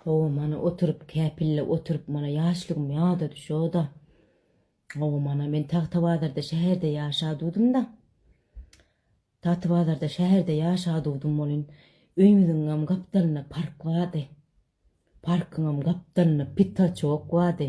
Hawa mana oturyp käpille oturyp mana ýaşlygym ýada düşoda. Hawa mana men Tagtabazarda şäherde ýaşadudymda. Tatybazarda şäherde ýaşadudym bolin öýümiziňem gapdalynda park bardy. Parkyňam gapdalynda pitaçok bardy.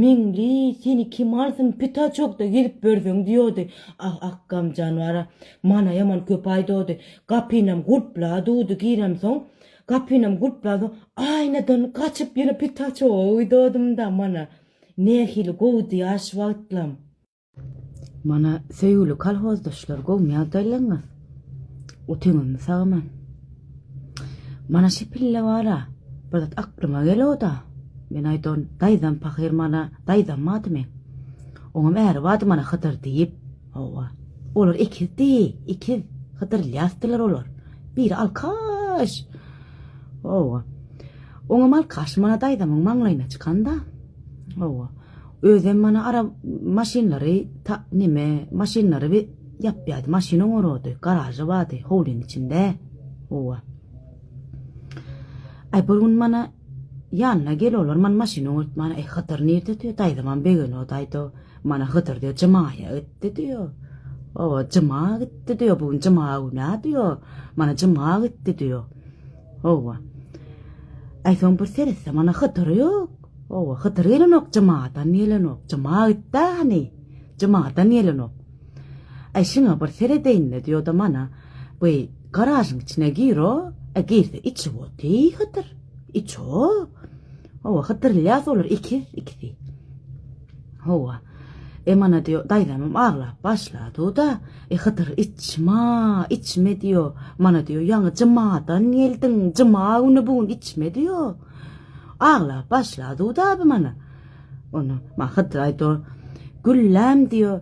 Meňli seni kim alsyn pita çogda gezip börzeň diýodi ah ak gamjan bara mana ýaman köp aýdody gapynam gulpla dudy girem soň gapynam gulpla soň aýnadan gaçyp ýene pita çoga uýdodymda mana nähili gowudy ýaş wagtlam. Mana, söýgüli kolhozdaşlar, gowymy ýagdaýlaryňyz? Otyňyzmy sagaman? Mana şi pille bar-a, bir zat aklyma gelo-da. Men aýdan, daýzam pahyr mana, daýzam bady meň. Oňam äri bady mana Hydyr diýip. Hawa. Olar ikizdi, ikiz. Hydyr Ylýasdylar olar. Biri alkaş. Hawa. Oňam alkaş mana daýzamyň maňlaýyna çykan-da. Hawa. Özem mana ara maşynlary ta neme maşynlary bi ýapýardy. Maşyn oňarady, garažy bardy howlyň içinde. Owa. Ay bir gün mana ýanyna gel olar man maşyn oňartmana e Hydyr nirde diýýär. Daýzamam begeno daýdo. Mana Hydyr diýýär jymaýa gitdi diýýär. Owa jyma gitdi diýýär. Bu gün jyma güna diýýär. Mana jyma gitdi diýýär. Owa. Ay soň bir seretse mana Hydyr ýok. Hawa, Hydyr gelenok, Jymadan gelenok. Jyma gitdi-ä hany. Jymadan gelenok. Äý, şuňa bir seredeýin-le, diýo-da mana, bu garažyň içine gir-o, e, girse içip oty, Hydyr. Iç-o. Hawa, Hydyr-Ylýas olar ikiz ikisi. Hawa. E, mana, diýo, daýzamam aglap başlady-da, e, Hydyr, içme, içme, diýo. Mana, diýo, ýaňy Jymadan geldiň, Jyma güni bu gün içme, diýo. Aglap başla Dud abi mana. Onda maňa Hydyr aýdýar, Gülläm diýýär,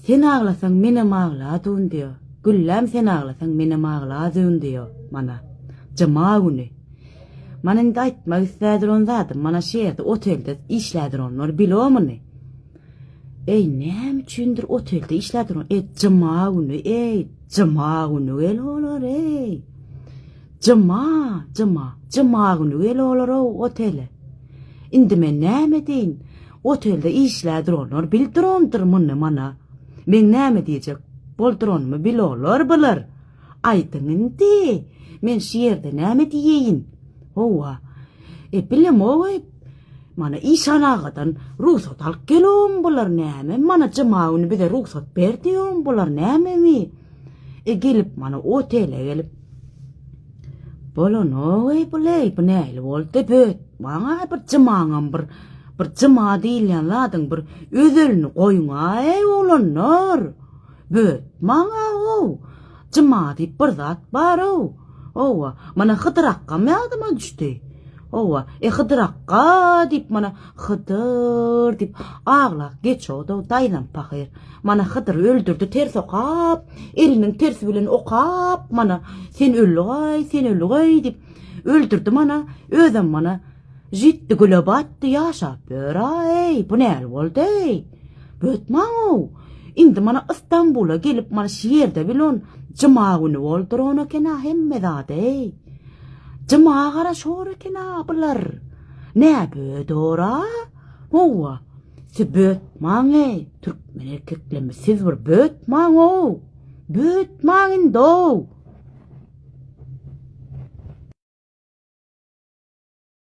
sen aglasaň menem agladun diýýär. Gülläm sen aglasaň menem agladun diýýär, mana. Juma güni. Mana indi aýtmak islär duran zadym, mana şu ýerde otelde işlär duranlar bilomyny. Eý näme üçindir otelde işlär duran, eý juma güni, eý juma güni gel olar eý. Jyma, jyma, jymagüni gel olar-ow otele. Indi men näme edeýin? Otelde işlär duranlar bil durandyr muny mana. Meň näme diýjek bolduranymy bil olar biler. Aýdyň indi, men şu ýerde näme diýeýin? Hawa, e, bilem-ow-eý, mana işan agadan rugsat alyp gel-owm bular näme, mana jyma güni bize rugsat ber diýowm bular näme-eý? E, gelip mana otele gelip, Bolanogeý buleý, bu nähili boldy böt? Maňa bir jymaňam bir bir jyma diýilýän zadyň bir özelini goýuňaý oglanlar. Böt maňa ow. Jyma diýip bir zat bar ow. Owa, mana Hydyr akgam ýadyma düşdi. Owa, e Hydyr akga diýip mana Hydyr diýip aglak geçodow daýzam pahyr. Mana Hydyry öldürdi ters okap, eliniň tersi bilen okap, mana, sen öllügaý, sen öllügaý diýip, öldürdi mana, özem mana, jitdi güle batdy, ýaşap ýör-aý, bu näl boldy-eý? Bötmaň-ow, indi mana Ystambula gelip mana şu ýerde bilon jyma güni bolduran eken-a hemme zad-eý. Jyma gara şor eken-a bular. Nä bödor-a? Howwa, siz bötmaň-eý, türkmen erkeklerimiz, siz bir bötmaň-ow! Bötmaň indi-ow!